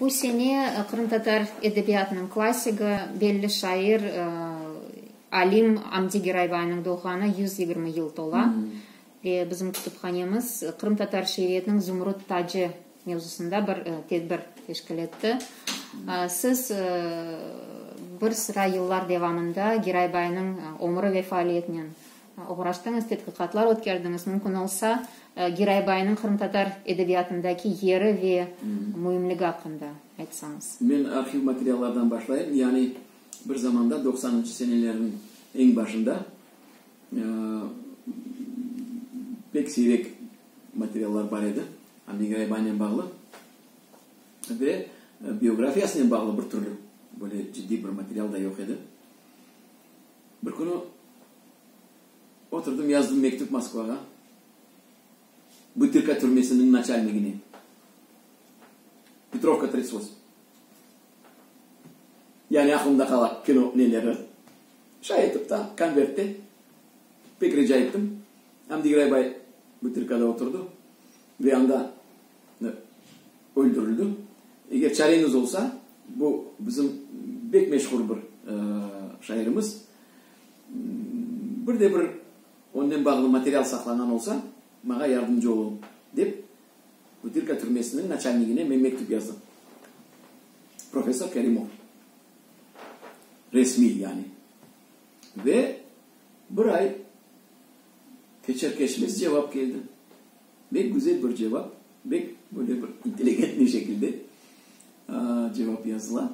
Bu sene qırımtatar edebiyatınıñ klassigi, belli şair, alim Amdi Geraybayniñ doğğanı yüz yigirmi yıl tola. Ve bizim kütüphanemiz qırımtatar şiiriyetiniñ zümrüt tacı mevzusında bir tedbir teşkil etti. Siz bir sıra yıllar devamında Geraybaynıñ ömrü ve faaliyetinen Oğraştıñız, tedqiqatlar ötkerdiñiz. Mümkün olsa, Giraybayınıñ qırımtatar edebiyatındaki yeri ve müimligi aqqında aytsañız. Men arhiv materiallardan başlayım. Yani bir zamanda, doqsanıncı senelerniñ eñ başında pek siyrek materiallar bar edi, Anne Giraybaynen bağlı ve biografiyasınen bağlı bir türlü böyle ciddiy bir material da yoq edi. Bir künü. Oturdım, yazdım mektüp Moskvağa, Butırka türmesiniñ naçalnigine, Petrovka trits't vosem. Yani aqlımda qala kino neleri. Şay etip ta konvertte pek rica ettim. Amdi İgray bay Butırkada oturdı ve anda öldürildi. Eger çareñiz olsa, bu bizim bek meşhur bir şairimiz. Bir de bir onden bağlı material saqlanğan olsa, maña yardımcı oluñ, dep, Butırka türmesiniñ naçalnigine men mektüp yazdım. Professor Kerimov. Resmiy, yani. Ve bir ay keçer-keçmez cevap keldi. Bek güzel bir cevap, bek böyle bir inteligentniy şekilde cevap yazıla.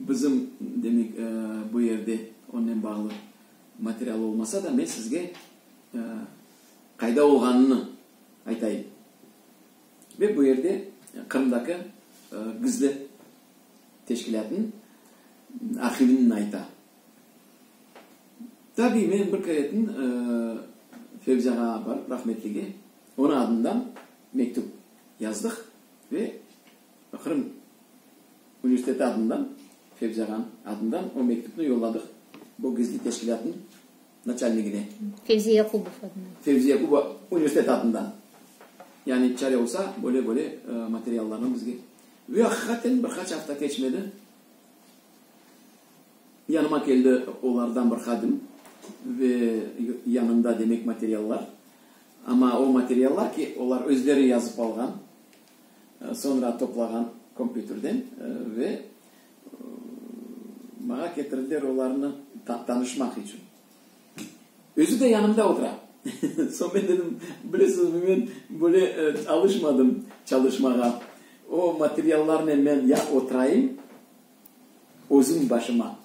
Bizim, demek, bu yerde onnen bağlı material olmasa da, men sizge qayda olğanını aytayım. Ve bu yerde Qırımdaki gizli teşkilâtnıñ arhivini ayta. Tabiy, men bir keretin Fevzi ağa barıp, rahmetlige, onıñ adından mektüp yazdıq ve. Qırım universiteti adından, Fevzi ağanıñ adından o mektüpni yolladıq bu gizli teşkilâtnıñ naçalnigine. Fevzi Yaqubov adından. Fevzi Yaqubov universiteti adından. Yani çare olsa, böyle-böyle materiallarnı bizge. Ve aqiqaten bir qaç afta keçmedi, yanıma keldi olardan bir hadim ve yanında demek materiallar. Amma o materiallar ki, olar özleri yazıp alğan. soñra toplağan kompyuterden ve maña ketirdiler olarnı tanışmaq içün. Özü de yanımda otura. Soñ men dedim, bilesizmi, men böyle alışmadım çalışmağa. O materiallarnen men ya oturayım, özüm başıma.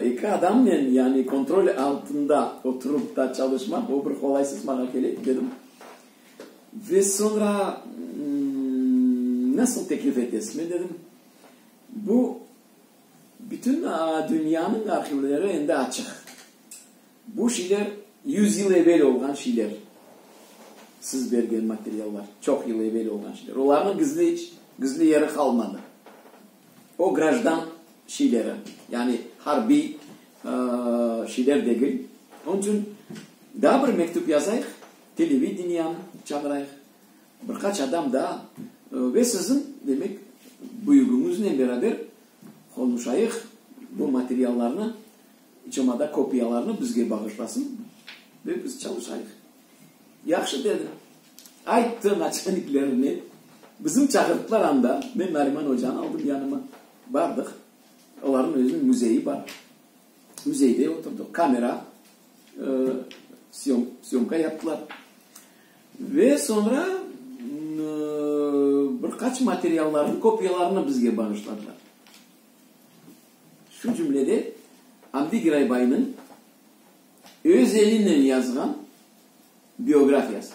Eki adamnen, yani kontrol altında oturup da çalışmaq, bu bir qolaysız maña kele, dedim. Ve soñra, nasıl teklif etesizmi? dedim. Bu, bütün dünyanıñ arhivleri endi açıq. Bu şeyler yüz yıl evel olğan şeyler, siz bergen materiallar, çoq yıl evel olğan şeyler. Olarnıñ gizli, gizli yeri qalmadı. O grajdan şeyleri, yani harbiy şeyler degil. Onıñ içün daa bir mektüp yazayıq, televideniyanı çağırayıq, bir qaç adam daa ve siziñ, demek, büyügüñiznen beraber qonuşayıq, bu materiallarnı, iç olmada kopiyalarnı bizge bağışlasın ve biz çalışayıq. Yahşı, dedi. Ayttı naçelniklerine, bizim çağırttılar anda, men Nariman ocanı aldım yanıma, bardıq, olarnıñ özüniñ müzeyi bar, müzeyde oturdıq, kamera siyomka yaptılar. Ve soñra bir qaç materiallarnıñ kopiyalarını bizge bağışladılar. Şu cümlede Amdi Giraybaynıñ öz elinen yazğan, Biografiyası.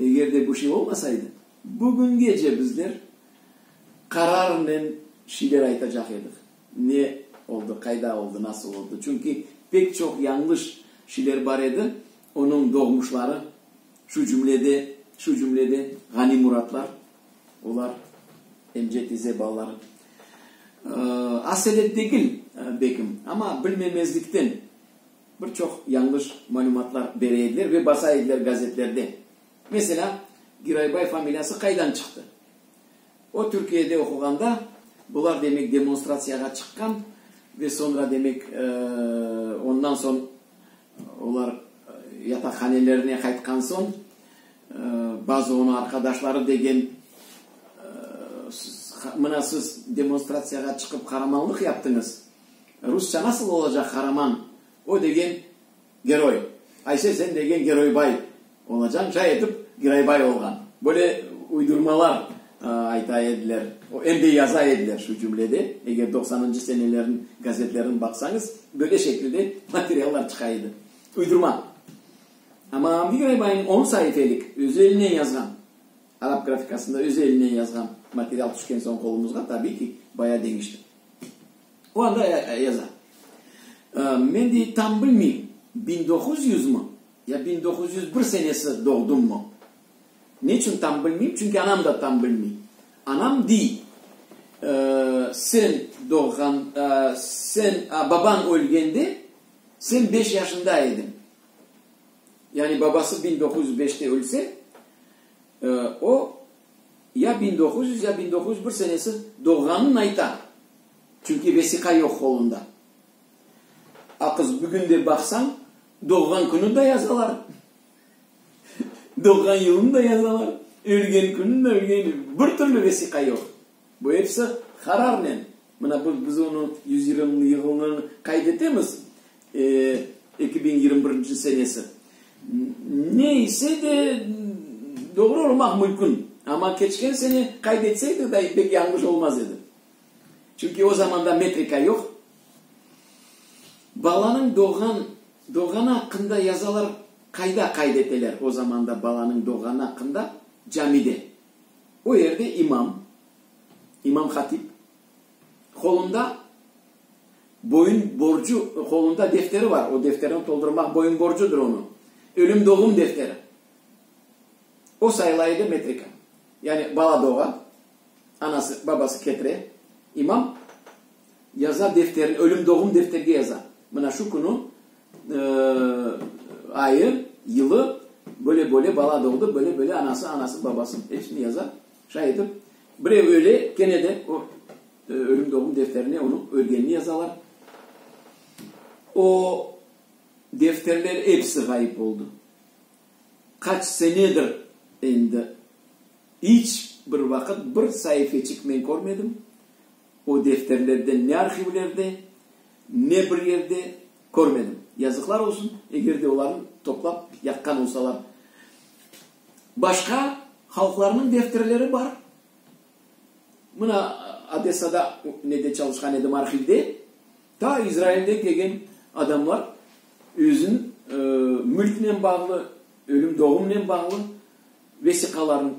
Eger de bu şey olmasaydı, bugüngece bizler qararınen şeyler aytacaq edik, ne oldı, qayda oldı, nasıl oldı. Çünki pek çoq yañlış şeyler bar edi, onıñ doğmuşları, şu cümlede, şu cümlede Ğani Muratlar, olar Emce tize balaları. Aselet degil bekim, amma bilmemezlikten Bir çoq yañlış malümatlar bere ediler ve basa ediler gazetlerde. Meselâ, Giraybay familiyası qaydan çıqtı? O, Türkiyede oquğanda, bular, demek, demonstratsiyağa çıqqan ve soñra, demek, ondan soñ olar yataqhanelerine qaytqan soñ, bazı onı arqadaşları degen, mına siz demonstratsiyağa çıqıp qaramanlıq yaptıñız, Rusça nasıl olacaq qaraman? O degen geroy. Ayse sen degen geroybay olacañ. Cay etip Giraybay olğan. Böyle uydurmalar ayta ediler. Em de yaza ediler şu cümlede. Eger doqsanıncı senelerniñ gazetlerini baqsañız, böyle şekilde materiallar çıqa edi. Uydurma. Amma Avni Giraybayniñ on saifelik özü elinen yazğan, arap grafikasında özü elinen yazğan material tüşken soñ qolumızğa, tabiy ki, baya deñişti. O anda yaza, Men dey, tam bilmeyim, biñ doquz yüz mı, ya biñ doquz yüz bir senesi doğdum mı? Neçün tam bilmeyim? Çünki anam da tam bilmey. Anam dey, Sen doğğan, sen, babañ ölgende sen beş yaşında ediñ. Yani babası biñ doquz yüz beşte ölse, O, ya biñ doquz yüz, ya biñ doquz yüz bir senesi doğğanın ayta, çünki vesiqa yoq qolunda. A qız bugün de baqsañ, doğğan künü de yazalar, doğğan yılını da yazalar, ölgen künü de, ölgen, bir türlü vesiqa yoq. Bu episi hararnen, mına bı biz onı yüz yirımnı yığılnı qayd etemiz, eki biñ yirmi birinci senesi. Ne ise de doğru olmaq mümkün, amma keçken sene qayd etseydik da pek yañlış olmaz edi. Çünki o zamanda metrika yoq. Balanıñ doğğan, doğğanı aqqında yazalar qayda qayd eteler o zamanda balanıñ doğğanı aqqında? Camide. O yerde imam, imam-hatip, qolunda boyun borcu, qolunda defteri bar, o defterini toldurmaq boyun borcudır onıñ, ölüm-doğum defteri. O sayıla edi metrika. Yani bala doğa, anası, babası ketire, imam yaza defterini, ölüm-doğum defterge yaza, mına şu künü, ayı, yılı, böyle böyle bala doğdı, böyle böyle anası, anası, babası, hepsini yaza, şay etip, birev öle, kene de o ölüm doğum defterine onıñ ölgenini yazalar. O defterler episi ğayıp oldı. Qaç senedir endi iç bir vaqıt bir saifeçik men körmedim. O defterlerde ne arhivlerde, ne bir yerde körmedim. Yazıqlar olsun, eger de olarnı toplap yaqqan olsalar. Başqa halqlarnıñ defterleri bar. Mına, Odessada nede çalışqan edim, arhivde, ta İzrailden kelgen adamlar özün mülknen bağlı, ölüm-doğumnen bağlı vesiqalarnı,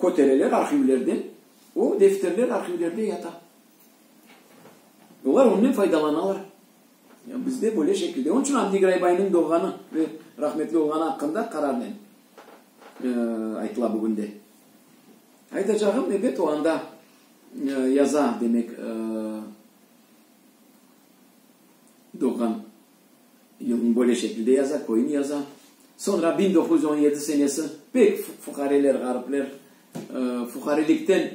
Kötereler arhivlerde, o defterler arhivlerde yata. Olar onnen faydalanalar. Ya bizde böyle şekilde. Onıñ içün Avni Graybaynıñ doğğanı ve rahmetli olğanı aqqında qararnen aytıla bugün de. Aytacağım, ebet, o anda yaza, demek, doğğan yılnı böyle şekilde yaza, köyni yaza. Soñra biñ doquz yüz on yedi senesi pek fuqareler, ğaripler fuqarelikten,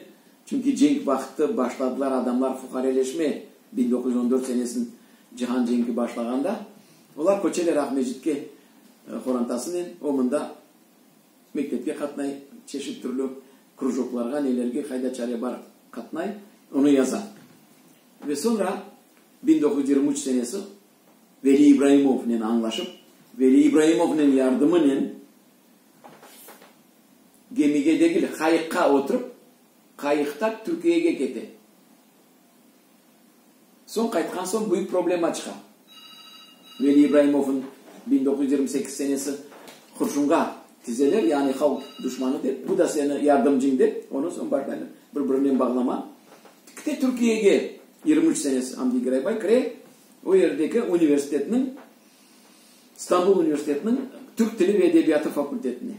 çünki cenk vaqıtı başladılar adamlar fuqareleşmeye, biñ doquz yüz on dört senesın cihan cenki başlağanda, olar köçeler Aqmescitke qorantasınen, o mında mektepke qatnay, çeşit türlü krujoklarğa, nelerge, qayda çare bar qatnay, onı yaza. Ve soñra. Bin doquz yüz yirmi üç senesi Veli İbrahimovnen añlaşıp, Veli İbrahimovnen yardımınen gemige degil, qayıqqa oturıp, qayıqta Türkiyege kete. Soñ qaytqan soñ büyük problema çıqa. Veli İbrahimovnı bin doquz yüz yirmi sekiz senesi qurşunğa tizeler, yani halq duşmanı dep, bu da seni yardımcıñ dep, ondan soñ başlaylar bir-birinen bağlama. Kite Türkiyege yirmi üç senesi Hamdi Giraybay kire, o yerdeki universitetniñ, İstanbul universitetiniñ Türk tili ve edebiyatı fakultetine.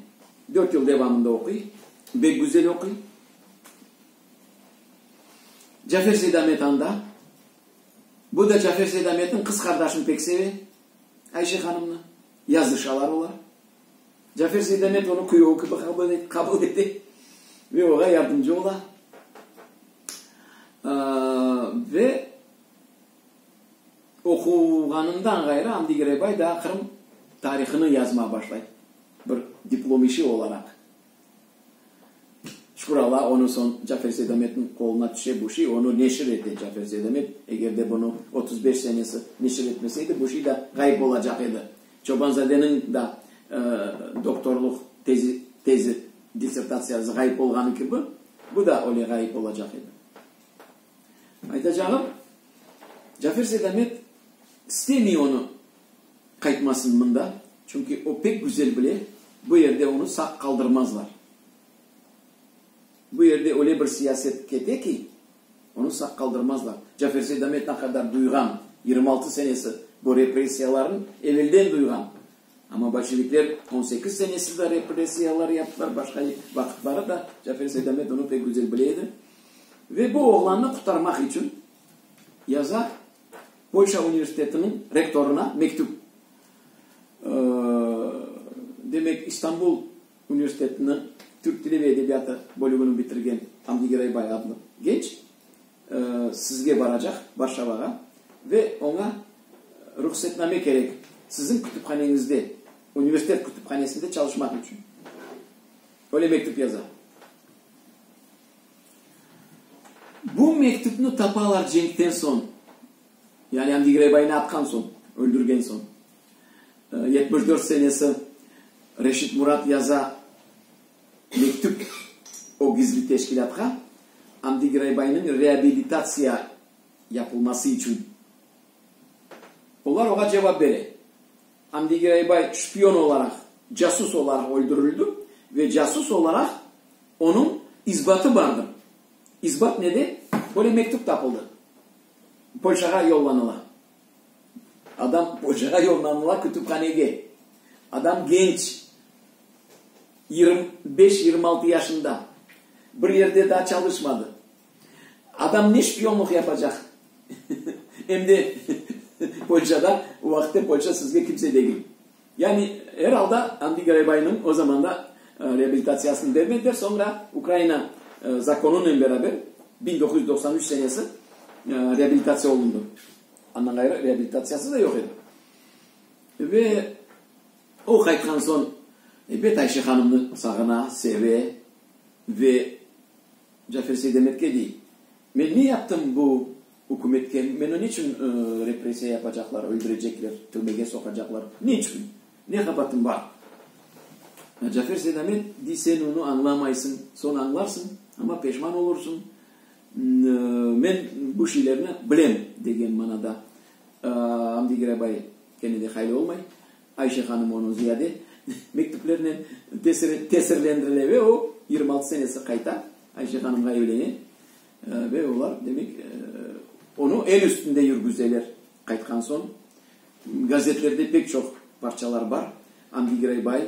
Dört yıl devamında oquy, bek güzel oquy. Cafer Seydamet anda. Bu da Cafer Seydametniñ qız qardaşını pek seve, Ayşe hanımnı, yazışalar olar. Cafer Seydamet onı küyevi kibi qabul ete ve oña yardımcı ola. Ve oquğanından ğayrı Amdi Giraybay daa Qırım tarihını yazmağa başlay, bir diplom işi olaraq. Şükür Alla, onı soñ Cafer Seydametniñ qoluna tüşe bu şiy, onı neşir ete Cafer Seydamet. Eger de bunı otuz beş senesi neşir etmeseydi, bu şiy da ğayıp olacaq edi. Çobanzadeniñ da doktorlıq tezi, tezi, dissertatsiyası ğayıp olğanı kibi, bu da öyle ğayıp olacaq edi. Aytacağım, Cafer Seydamet istemey onı qaytmasın mında, çünki o pek güzel bile, bu yerde onı sağ qaldırmazlar. Bu yerde öyle bir siyaset kete ki, onı sağ qaldırmazlar. Cafer Seydamet ne qadar duyğan, yirmi altı senesi bu repressiyalarnı evelden duyğan. Amma bolşevikler on sekiz senesi de repressiyalar yaptılar, başqa vaqıtları da. Cafer Seydamet onı pek güzel bile edi. Ve bu oğlannı qurtarmaq içün yaza Polşa universitetiniñ rektorına mektüp. Demek, İstanbul universitetiniñ Türk tili ve edebiyatı bölügini bitirgen Hamdi Giraybay adlı genç Sizge baracaq, Varşavağa, ve oña ruhsetname kerek, siziñ kütüphaneñizde, universitet kütüphanesinde çalışmaq içün. Öyle mektüp yaza. Bu mektüpni tapalar cenkten soñ, yani Andi Grebaynı atqan soñ, öldürgen soñ. Yetmiş dört senesi Reşit Murat yaza. Mektüp o gizli teşkilâtqa Amdi Giraybaynıñ reabilitatsiya yapılması içün. Olar oğa cevap bere, Amdi Giraybay şpion olaraq, casus olaraq öldürildi ve casus olaraq onıñ isbatı bardır. İsbat nede? Böyle mektüp tapıldı. Polşağa yollanıla. Adam poçağa yollanıla kütüphanege. Adam genç, yirmi beş, yirmi altı yaşında. Bir yerde daa çalışmadı. Adam ne şpiyonlıq yapacaq? Em de poçada, o vaqıtta poça sizge kimse degil. Yani, er alda, Andiy Garaybaynıñ o zamanda reabilitatsiyasını bermediler, soñra Ukraina zakonunen beraber biñ doquz yüz doqsan üç senesi reabilitatsiya olundı. Andan ğayrı reabilitatsiyası da yoq edi. Ve o qaytqan soñ ebet Ayşe hanımnı sağına, seve ve Cafer Seydemetke dey. Men ne yaptım bu ükümetke? Meni ne içün repressiya yapacaqlar, öldürecekler, türmege soqacaqlar? Ne içün? Ne qabaatım bar? Cafer Seydamet dey, sen onı añlamaysıñ, soñ añlarsıñ, amma peşman olursıñ. Men bu şeylerni bilem, degen manada Amdi Girabay kene de hayli olmay, Ayşe hanım onı ziyade mektüplerinen tesirlendirile ve o, yirmi altı senesi qayta Ayşe hanımğa evlene ve olar, demek, onı el üstünde yürgüzeler. Qaytqan soñ gazetlerde pek çoq parçalar bar. Andiy Giraybay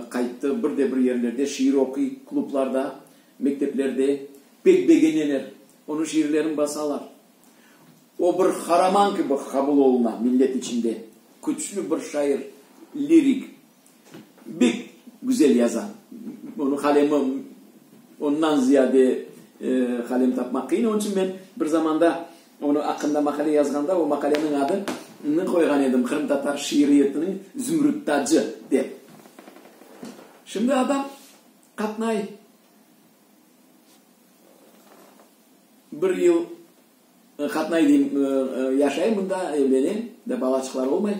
qayttı, bir de bir yerlerde şiir oquy, klublarda, mekteplerde. Pek begeneler, onıñ şiirlerini basalar. O, bir qaraman kibi qabul oluna millet içinde. Küçlü bir şair, lirik. Bek güzel yaza. Onıñ qalemi ondan ziyade qalem tapmaq qıyın. Onıñ içün men bir zamanda onıñ aqqında maqale yazğanda o maqaleniñ adını qoyğan edim, Qırımtatar şiiriyetiniñ zümrüt tacı, dep. Şimdi adam qatnay, bir yıl. Qatnay deyim, yaşay mında, evlene ve balaçıqlar olmay.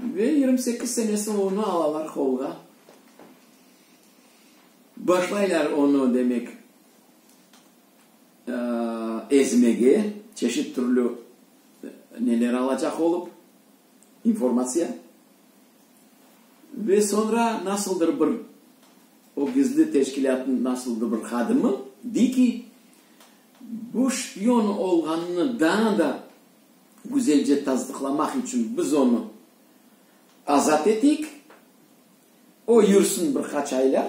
Ve yigirmi sekiz senesi olğanda alalar qolğa. Başlaylar onı, demek, ezmege, çeşit türlü neler alacaq olıp. informatsiya ve soñra nasıldır bir o gizli teşkilâtnıñ nasıldır bir hadimi dey ki, bu şpion olğanını daa da güzelce tasdıqlamaq içün biz onı azat eteyik, o yürsin bir qaç aylar,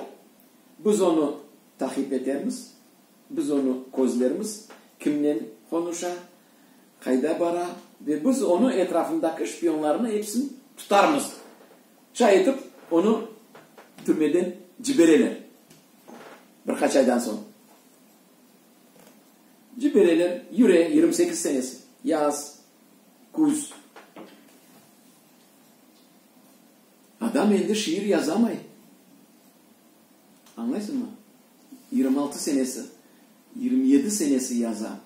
biz onı taqip etermiz, biz onı közlermiz, kimnen qonuşa, qayda bara ve biz onı etrafındaki şpiyonlarını epsin tutarmız, şay etip onı türmeden cibereler bir qaç aydan soñ. Cibereler, yüre, yirmi sekiz senesi, yaz, küz. Adam endi şiir yazamay. Añlaysıñmı? Yirmi altı senesi, yirmi yedi senesi yaza.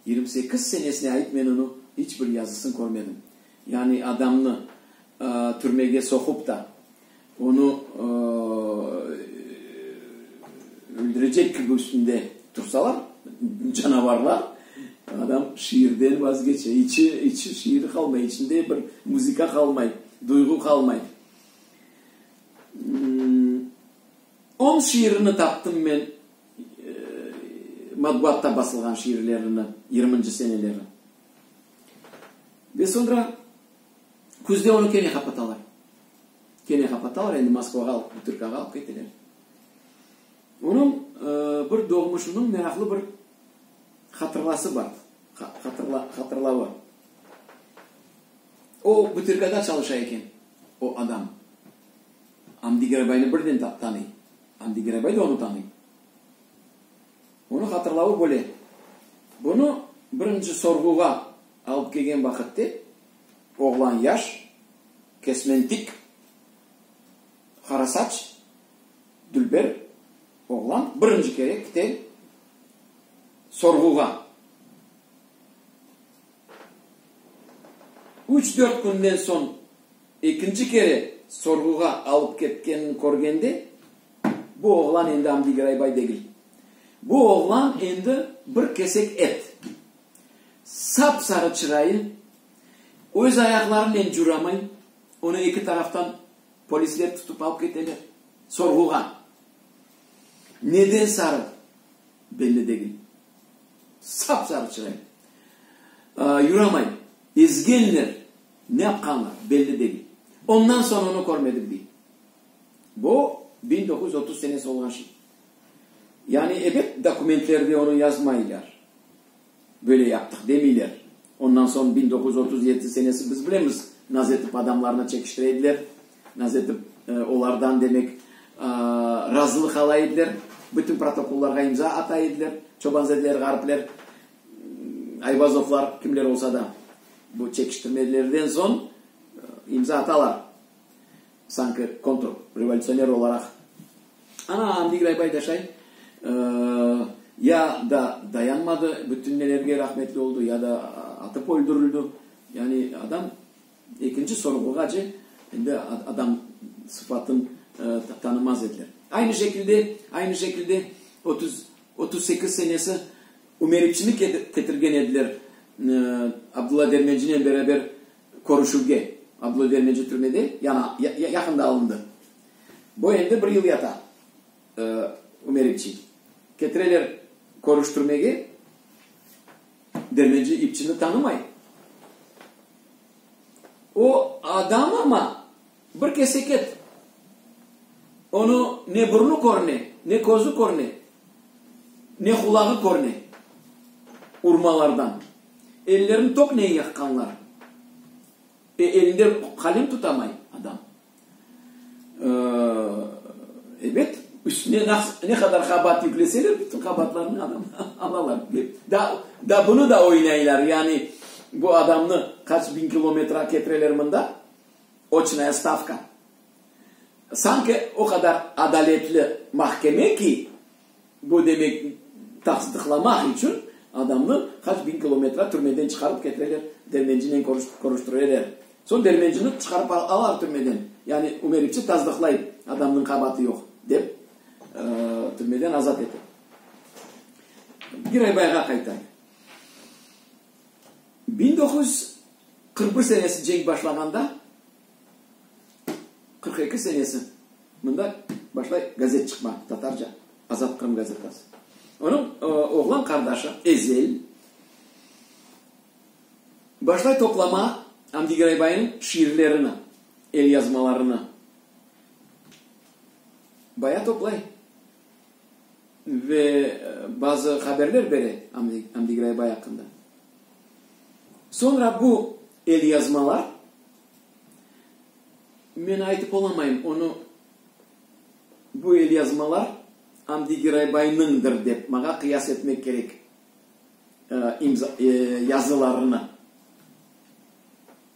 Yirmi sekiz senesine ait men onı iç bir yazısın körmedim. Yani adamnı türmege soqup da, onı öldürecek kibi üstünde tursalar, canavarlar, adam şiirden vazgeçe, içi, içi şiiri qalmay, içinde bir muzıka qalmay, duyğu qalmay. On şiirini taptım men. matbuatta basılğan şiirlerini yirminci seneleri. Ve soñra küzde onı kene qapatalar. Kene qapatalar, endi Moskvağa alıp, Butırkağa alıp keteler. Onıñ bir doğmuşınıñ meraqlı bir hatırlası bar, hatırla, hatırlavı. O Butırkada çalışa eken o adam. Amdi Gerabayni birden tanıy. Amdi Gerabay da onı tanıy. Onı hatırlavı böyle, Bunı birinci sorğuğa alıp kelgen vaqitte oğlan yaş, kesmentik, qara saç, dülber oğlan birinci kere kite sorğuğa. Üç-dört künden soñ. Ekinci kere sorğuğa alıp ketkenini körgende, bu oğlan endi Amdiy Raybay degil. Bu oğlan endi bir kesek et. Sap-sarı çırayı, öz ayaqlarınen curamay, onı eki taraftan polisler tutıp alıp keteler. Sorğuğa. Neden sarı, belli degil. Sap-sarı çırayı. Yuramay. Ezgenler. Ne yapqanlar, belli degil. Ondan soñ onı körmedik, dey. Bu, biñ doquz yüz otuz senesi olğan şey. Yani, ebet, dokumentlerde onı yazmaylar. Böyle yaptıq, demeyler. Ondan soñ biñ doquz yüz otuz yedisi senesi biz bilemiz, naze etip adamlarnı çekiştire ediler, naze etip olardan, demek, razılıq ala ediler, bütün protokollarğa imza ata ediler, çobanzedeler, ğaripler, Ayvazovlar, kimler olsa da. Bu çekiştirmelerden soñ imza atalar, sanki kontrrevolutsioner olaraq. Ana, Andiy Graybay daşay, ya da dayanmadı, bütün nelerge rahmetli oldı, ya da atıp öldürildi. Yani adam ekinci sorğuğace endi adam sıfatın tanımaz ediler. Aynı şekilde, aynı şekilde otuz sekiz senesi. Ümeritçini ketirgen ediler Abdulla Dermencinen beraber körüşüvge. Abdulla Dermenci türmede, yañı, yaqında alındı. Bu endi bir yıl yata Ümeritçi. Ketireler körüştürmege, Dermenci ipçini tanımay. O, adam ama, Bir keseket, onı ne burnu körüne, ne közü körüne, ne qulağı körüne, urmalardan. Ellerini toknen yaqqanlar. E, elinde qalem tutamay adam. Ebet, üstüne ne qadar qabaat yükleseler, bütün qabaatlarını adam alalar. Da bunı da oynaylar, yani bu adamnı qaç biñ kilometre ketireler mında. Oçnaya stavka. Sanki o qadar adaletli mahkeme ki, bu demek, taqsdıqlamaq içün adamnı qaç biñ kilometre türmeden çıqarıp ketireler, dermencinen körüştireler. Soñ dermencini çıqarıp alalar türmeden. Yani ümerikçi tasdıqlay, adamnıñ qabaatı yoq, dep, türmeden azat ete. Giray bayğa qaytay. Biñ doquz yüz qırq bir senesi cenk başlağanda, qırq eki senesi mında başlay gazet çıqma, tatarca, Azat Qırım gazetası. Onıñ oğlan qardaşı Ezel başlay toplama Amdi Giraybayınıñ şiirlerini, elyazmalarını. Bayağı toplay. ve bazı haberler bere Amdi Graybay aqqında. Soñra bu elyazmalar, men aytıp olamayım onı, bu elyazmalar Amdi Giraybaynıñdır dep, maña qıyas etmek kerek yazılarını.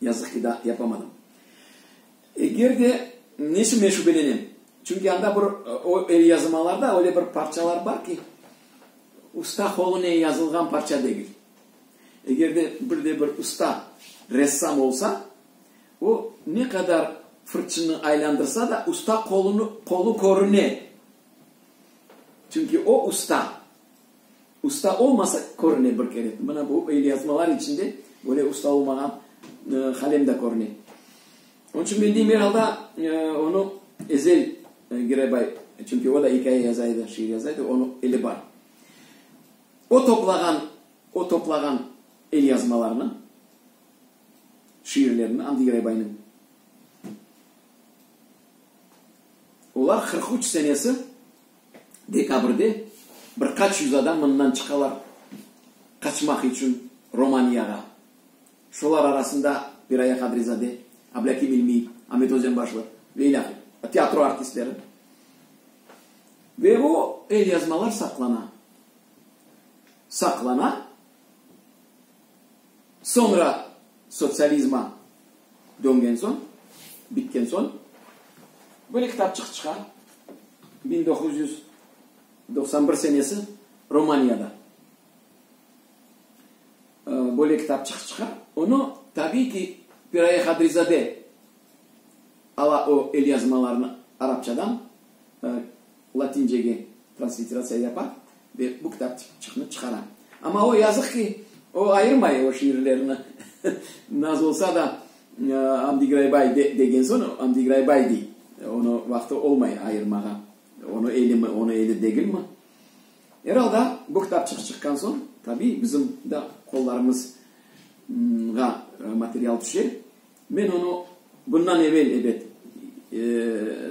Yazıq ki, da yapamadım. Eger de, nesi men şübelenem, çünki anda bir o elyazımalarda öyle bir parçalar bar ki, usta qolunen yazılğan parça degil. Eger de bir de bir usta ressam olsa, o ne qadar fırçını aylandırsa da, usta qolunı qolu körüne, çünki o usta. Usta olmasa körüne bir kere. Mına bu elyazmalar içinde böyle usta olmağan Halem de körüne. Onıñ içün men deyim, er alda onı Ezel Girebay, çünki o da ikâye yaza edi, şiir yaza edi, onıñ eli bar. O toplağan, o toplağan elyazmalarını, şiirlerini Amdi Girebaynıñ. Olar qırq üç senesi. Dekabrde bir qaç yüz adam mından çıqalar qaçmaq içün Romaniyağa. Şolar arasında Piraye Qadrizade, Ablâkim İlmiy, Amet Özenbaşlı ve ilâhre. Teatro artistleri. Ve o elyazmalar saqlana. Saqlana. Soñra sotsializma döngen soñ, bitken soñ, böyle kitapçıq çıqa, biñ doquz yüz doqsan bir senesi Romaniyada böyle kitapçıq çıqa. Onı, tabiy ki, Piraye Hadrizade ala o elyazmalarnı arapçadan latincege transliteratsiya yapa. Ve bu kitapçıqnı çıqara. Amma o, yazıq ki, o ayırmay o şiirlerini. Naz olsa da, Amdi Graybay degen soñ, Amdi Graybay dey. Onı vaqtı olmay ayırmağa. Onı elimi, onı eli degilmi? Er alda, bu kitapçıq çıqqan soñ, tabiy, bizim de qollarımızğa material tüşe. Men onı bundan evel, ebet,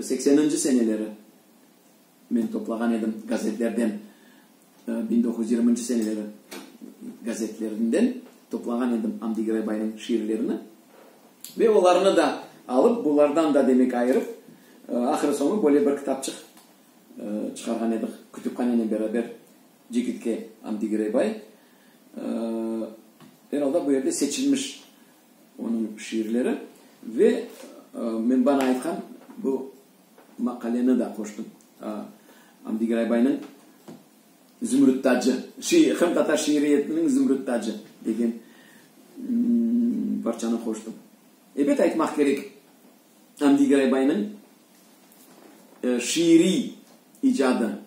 sekseninci seneleri Men toplağan edim gazetlerden, biñ doquz yüz yirminci seneleri gazetlerinden toplağan edim Amdi Giraybaynıñ şiirlerini. Ve olarnı da alıp, bulardan da, demek, ayırıp, ahırı-soñu böyle bir kitapçıq çıqarğan ediq kütüphanenen beraber Cekitke Amdi Giraybay. Er alda, bu yerde seçilmiş onıñ şiirleri ve men bana aytqan bu Maqaleni da qoştım. Amdi Giraybaynıñ Zümrüt tacı, hem tatar şiiriyetiniñ Zümrüt tacı degen parçanı qoştım. Ebet aytmaq kerek, Amdi Giraybaynıñ şiiriy icadı,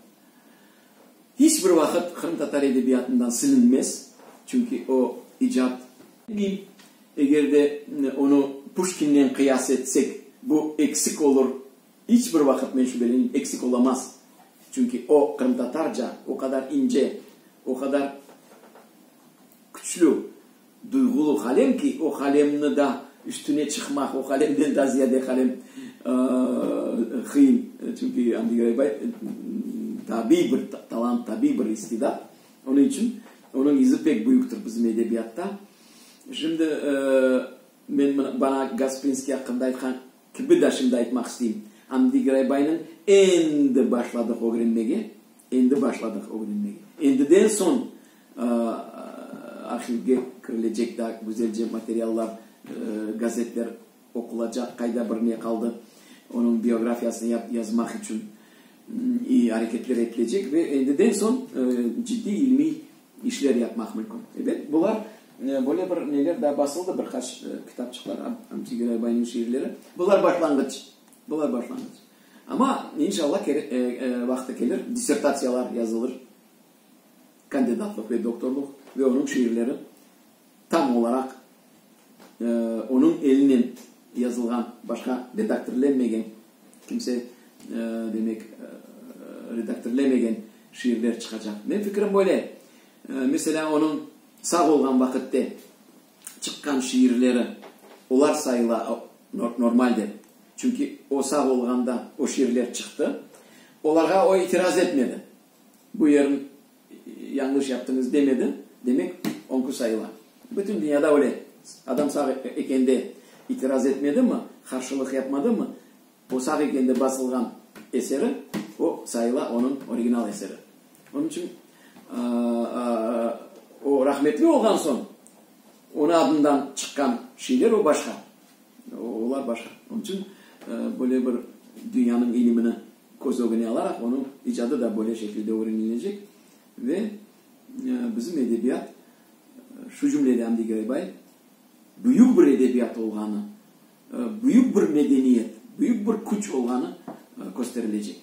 hiç bir vaqıt qırımtatar edebiyatından silinmez, çünki o icat. Dil, eger de onı Puşkinnen qıyas etsek, bu eksik olur, hiç bir vaqıt, men şübelenim, eksik olamaz, çünki o qırımtatarca o qadar ince, o qadar küçlü, Duyğulu qalem ki, o qalemni da üstüne çıqmaq, o qalemden da ziyade qalem qıyın. Çünki Amdi Geraybay tabiy bir talant, tabiy bir istidat. Onıñ içün onıñ izi pek büyüktir bizim edebiyatta. Şimdi men mına bana Gasprinskiy aqqında aytqan kibi da şimdi aytmaq isteyim. Amdi Geraybaynıñ endi başladıq ögrenmege, endi başladıq ögrenmege. Endiden soñ. Arhivge kirilecek daa güzelce materiallar, gazetler oqulacaq, qayda bir ne qaldı, onıñ biografiyasını yap, yazmaq içün i areketler etilecek ve endiden soñ ciddiy ilmiy işler yapmaq mümkün. Ebet, bular böyle bir neler daa basıldı, bir qaç kitapçıqlar, Amfi Geraybeyniñ şiirleri. Bular başlanğıç, bular başlanğıç. Amma, inşallah, vaqtı kelir, dissertatsiyalar yazılır. kandidatlıq ve doktorlıq ve onıñ şiirleri tam olaraq onıñ elinen yazılğan, başqa redaktirlenmegen, kimse, demek, redaktirlemegen şiirler çıqacaq. Menim fikrim böyle. Meselâ, onıñ sağ olğan vaqıtte çıqqan şiirleri, olar sayıla normal dep. Çünki o sağ olğanda o şiirler çıqtı. Olarğa o itiraz etmedi. Bu yerni yañlış yaptıñız demedi, demek oñki sayıla. Bütün dünyada öyle. Adam sağ ekende itiraz etmedimi, qarşılıq yapmadımı, o sağ ekende basılğan eseri, o sayıla onıñ original eseri. Onıñ içün o rahmetli olğan soñ onıñ adından çıqqan şeyler o başqa, olar başqa. Onıñ içün böyle bir dünyanıñ ilimini. Köz ögüne alaraq onıñ icadı da böyle şekilde ögrenilnecek ve bizim edebiyat, şu cümlede Amdi Giraybay, büyük bir edebiyat olğanı, büyük bir medeniyet, büyük bir küç olğanı kösterilecek.